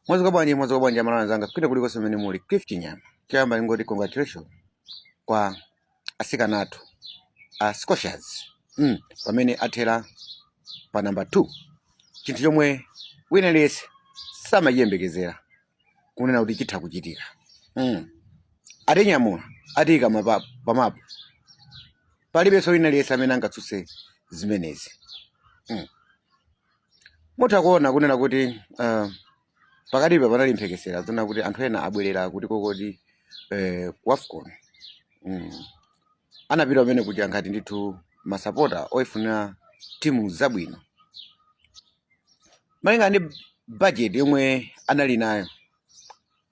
Mwazuka bwanji mwazuka bwanji amalawi anzanga kwina kulikonse kumene muli Cliff Chinyama choyamba ndingoti congratulation kwa asikana athu a Scorchers mm, pamene athera pa namba 2 chinthu chomwe wina aliyense samachiyembekezera kunena kuti chitha kuchitika mm. atinyamula atiyika pamapu palibenso wina aliyense amene angatsutse zimenezi mm. mutha kuona kunena kuti uh, pakatipa panali mphekesera zonena kuti anthu ena abwerera kuti kokoti eh, ku wafcon mm. anapita kumene kuja ngati ndithu masapota oyifunira timu zabwino malingana ndi bajeti yomwe anali nayo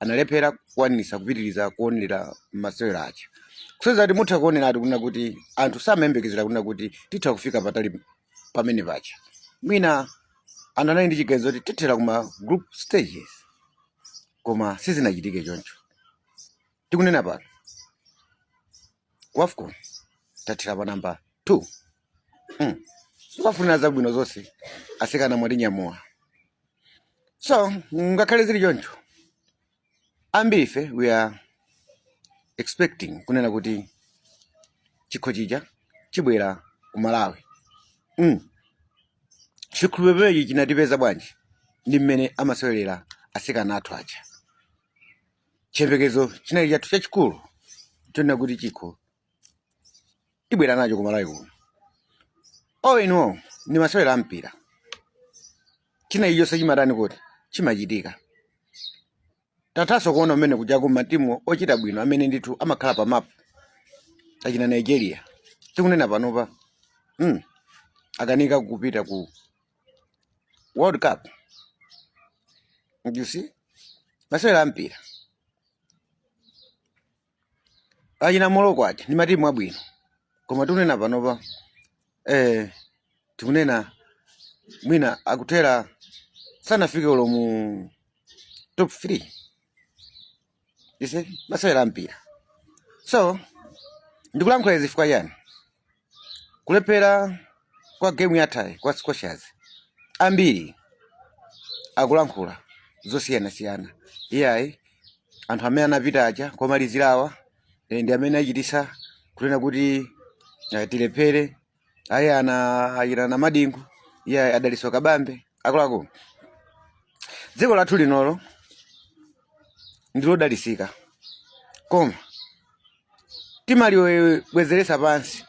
analephera kukwanisa kupitiriza kuonera masewero aja kusonyeza kuti mutha kuoneratu kunena kuti anthu samayembekezera kunena kuti titha kufika patali pamene paja mwina anthu anali ndi chiganizo kuti tithera kuma group stages koma sizinachitike choncho tikunena pano ku wafcon tathera pa namba 2 mm. tikuwafunira zabwino zonse asikana mwatinyamula so ngakhale zili choncho ambiri ife we were expecting kunena kuti chikho chija chibwera ku malawi mm. chikhulupiriro chinatipeza bwanji ndi mmene amasewerera asikana athu aja chiyembekezo chinali chathu chachikulu chonena kuti chikho tibwera nacho ku malawi kuno all in all ndi masewero a mpira china ichonse chimatani kuti chimachitika tithanso kuona kumene kujaku matimu ochita bwino amene ndithu amakhala pa mapu achina nigeria tikunena panopa mm. akanika kupita ku world cup you see masewera ampira achina morocco aja ndi matimu abwino koma tikunena panopa eh, tikunena mwina akuthera sanafike olo mu top 3 You see? Masewera a mpira. So, ndikulankhula izi chifukwa chani? Kulephera kwa game yathayi kwa Scorchers. Ambiri akulankhula zosiyanasiyana. Iyayi anthu amene anapita aja komalizirawa eh, ndi amene achititsa kunena kuti eh, tilephere ayi anachita namadingo iye a dalitso kabambe akuluakulu dziko lathu linolo ndilodalisika koma timalibwezeresa pansi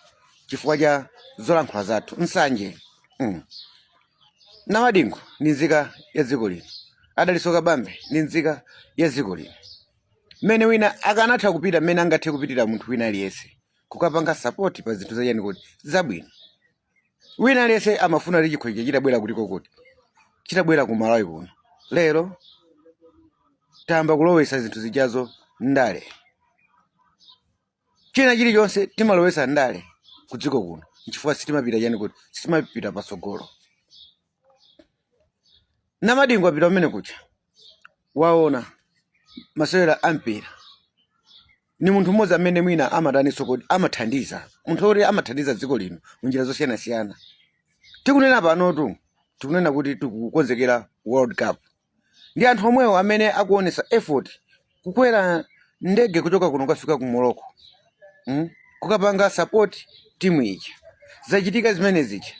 chifukwa cha zolankhula zathu nsanje mm. namadingo ndi nzika ya dziko lino a dalitso kabambe ndi nzika ya dziko lino mmene wina akanatha kupita mmene angathe kupitira munthu wina aliyense kukapanga support pa zinthu zachani kodi zabwino wina aliyense amafuna kuti chikho chija chitabwera kutiko kodi chitabwera ku malawi kuno lero tayamba kulowesa zinthu zijazo ndale china chilichonse timalowesa ndale ku dziko kuno nchifukwa sitimapita chani kodi sitimapita patsogolo namadingo apita pamene kuja waona masewera ampira ni munthu mmodzi amene mwina amataniso kodi amathandiza munthu oti amathandiza dziko lino munjira zosiyanasiyana tikunena panotu tikunena kuti tikukonzekera world cup ndi anthu omwewo amene akuonesa effort kukwera ndege kuchoka kuno kukafika ku Morocco mm? kukapanga support timu ija zachitika zimene zija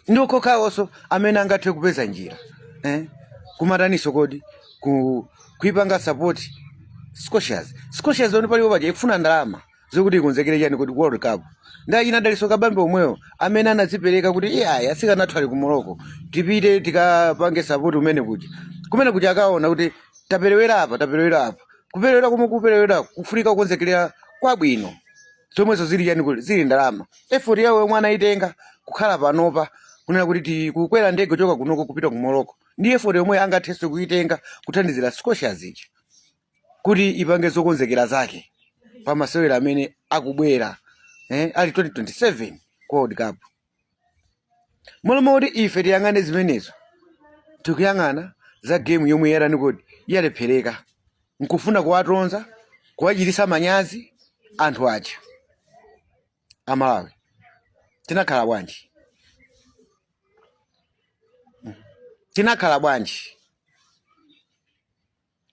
ndi okhokhawoso amene angathe kupeza njira eh? kumataniso kodi ku, kuipanga support scorchers scorchers oni palipo paja ikufuna ndalama zokuti ikonzekere chani kodi world cup ndi ana dalitso kabambe omwewo amene anadzipereka kuti iyayi asikana athu ali ku morocco tipite tikapange sapoti kumene kuja kumene kuja akaona kuti taperewera apa taperewera apa kuperewera komwe kuperewera kufunika kukonzekera kwabwino zomwezo zili chani kodi zili ndalama effort yawo yomwe anayitenga kukhala panopa kunena kuti ti- kukwera ndege kuchoka kunoko kupita ku morocco ndi effort yomwe angathenso kuyitenga kuthandizira scorchers ija kuti ipange zokonzekera zake pa masewera amene akubwera eh, ali 2027 ku World Cup mmalo mokuti ife tiyang'ane zimenezo tikuyang'ana za game yomwe yatani kodi yalephereka nkufuna kuwatonza kuwachitisa manyazi anthu aja amalawi tinakhala bwanji tinakhala bwanji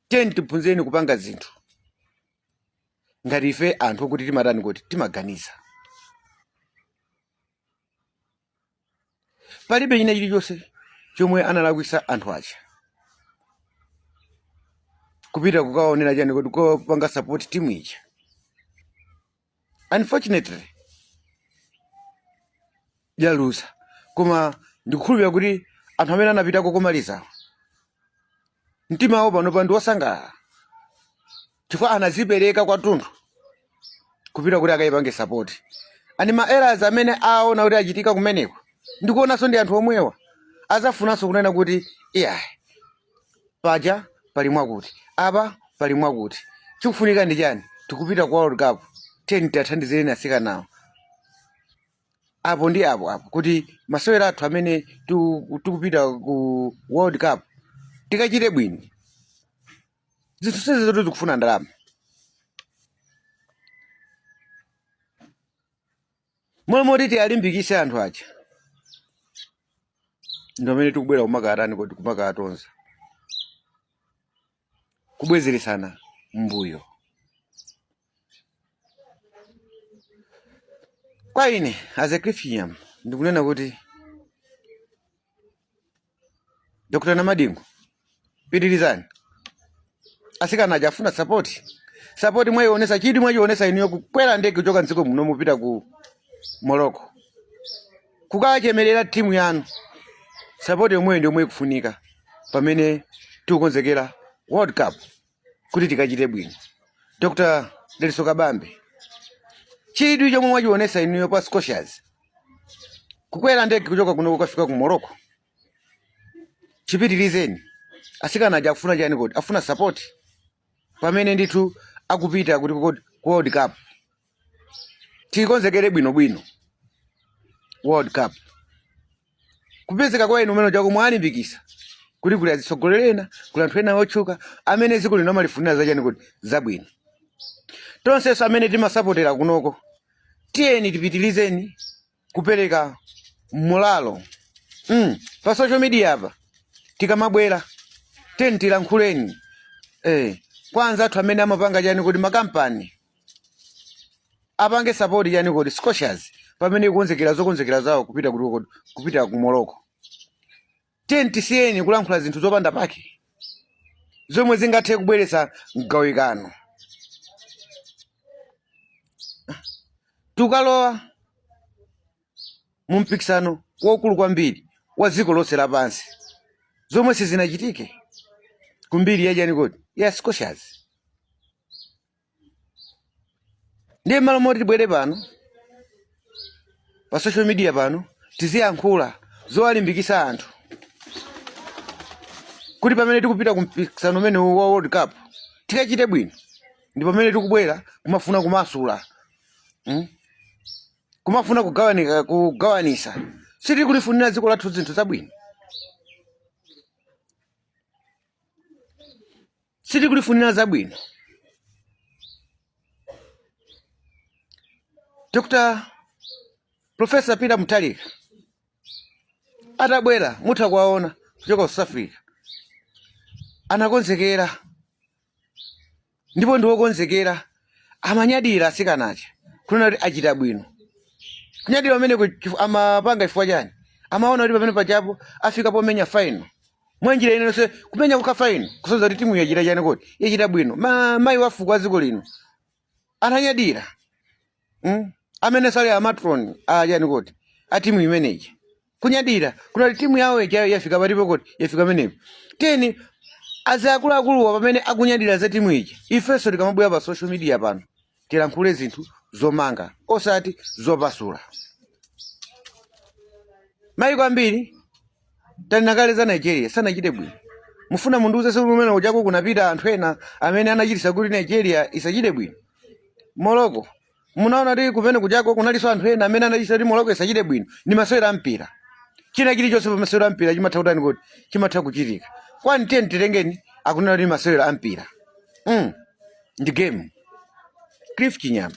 tiyeni tiphunzireni kupanga zinthu ngati ife anthu okuti timatani kodi timaganiza palibe china chilichonse chomwe analakwisa anthu aja kupita kukaonera chani kodi kupanga sapoti timu ija unfortunately yaluza koma ndikukhulupirira kuti anthu amene anapitako komalizawo mtima wawo panopa ndi wosangalala chifukwa anazipereka kwathunthu kupita kuti akayipange sapoti any ma errors amene aona kuti achitika kumeneko ndikuonanso ndi anthu omwewa azafunanso kunena kuti iyayi paja pali mwakuti apa pali mwakuti chikufunika ndi chani tikupita ku world cup tiyeni tiwathandizireni atsikanawo apo ndi apo apo kuti masewera athu amene tiku- tikupita ku world cup tikachite bwino zinthu zonsezi zoti zikufuna ndalama mmalo moti tialimbikise anthu aja ndi pamene tikubwera kumakatani kodi kumakatonza kubwezeresana mbuyo kwa ine as a christian ndikunena kuti Dr. Namadingo, pitirizani. Asikana aja afuna sapoti. Sapoti mwaionesa chidwi mwachionesa inuyo kukwera ndege kuchoka mdziko muno mupita ku Morocco. Kukachemerera timu yanu. Sapoti yomweyo ndi yomwe ikufunika pamene tikukonzekera World Cup. kuti tikachite bwino dr dalitso kabambe chidwi chomwe mwachionesa inuyo pa scorchers kukwera ndege kuchoka kuno kukafika ku morocco chipitirizeni asikana aja akufuna chani kodi afuna support pamene ndithu akupita kuti ku ku world cup tikonzekere bwinobwino world cup kupezeka kwa inu kumene kujako mwalimbikisa kuti kuli azitsogoleri ena kuli anthu ena otchuka amene dziko lino amalifunira zachani kodi zabwino tonsenso amene timasapotera kunoko tiyeni tipitilizeni kupereka moralo mm. pa social media apa tikamabwera tiyeni tilankhuleni eh. kwa anzathu amene amapanga chani kodi makampani apange support chani kodi scorchers pamene ikonzekera zokonzekera zawo kupita kuti uko- kupita ku morocco tiyeni tisiyeni kulankhula zinthu zopanda pake zomwe zingathe kubweretsa mgawikano tukalowa mu mpikisano waukulu kwambiri wa dziko lonse lapansi zomwe sizinachitike kumbiri yachani kodi ya scorchers ndiye mmalo moti tibwere pano pa social media pano tiziyankhula zowalimbikisa anthu kuti pamene tikupita ku mpikisano umene wa world cup tikachite bwino ndi pamene tikubwera kumafuna kumasula mm? kumafuna kugawa kugawanisa sitiri kulifunira dziko lathu zinthu zabwino sitikulifunira zabwino dr profesa peter mutharika atabwera mutha kuwaona kuchoka ku south africa anakonzekera ndipo ndiwokonzekera amanyadira asikana aja kunena kuti achita bwino kunyadira kumene amapanga chifukwa chani amaona kuti pamene pachapa afika pomenya final mwa njira ina iliyonse kumenya kokha final kusonyeza kuti timu yachita chani kodi yachita bwino Ma- mayi wafuko wa dziko lino ananyadira mm? amene sali amatron achani kodi a timu imeneyi kunyadira kunena kuti timu yawo ija yafika pa chani kodi yafika pamenepo tiyeni akuluakuluwa pamene akunyadira za timu ija ifenso tikamabwera pa social media pano tilankhule zinthu zomanga osati zopasula maiko ambiri tanena kale za nigeria sanachite bwino mufuna mundiuze kuti kumene kuchako kunapita anthu ena amene anachitisa kuti nigeria isachite bwino morocco munaona kuti kumene kuchako kunalinso anthu ena amene anachitisa kuti morocco isachite bwino ndi masewera a mpira china chilichonse pa masewera a mpira chimatha kutani kodi chimatha kuchitika kwani tiyeni titengeni kunena kuti masewera a mpira mm. ndi game cliff chinyama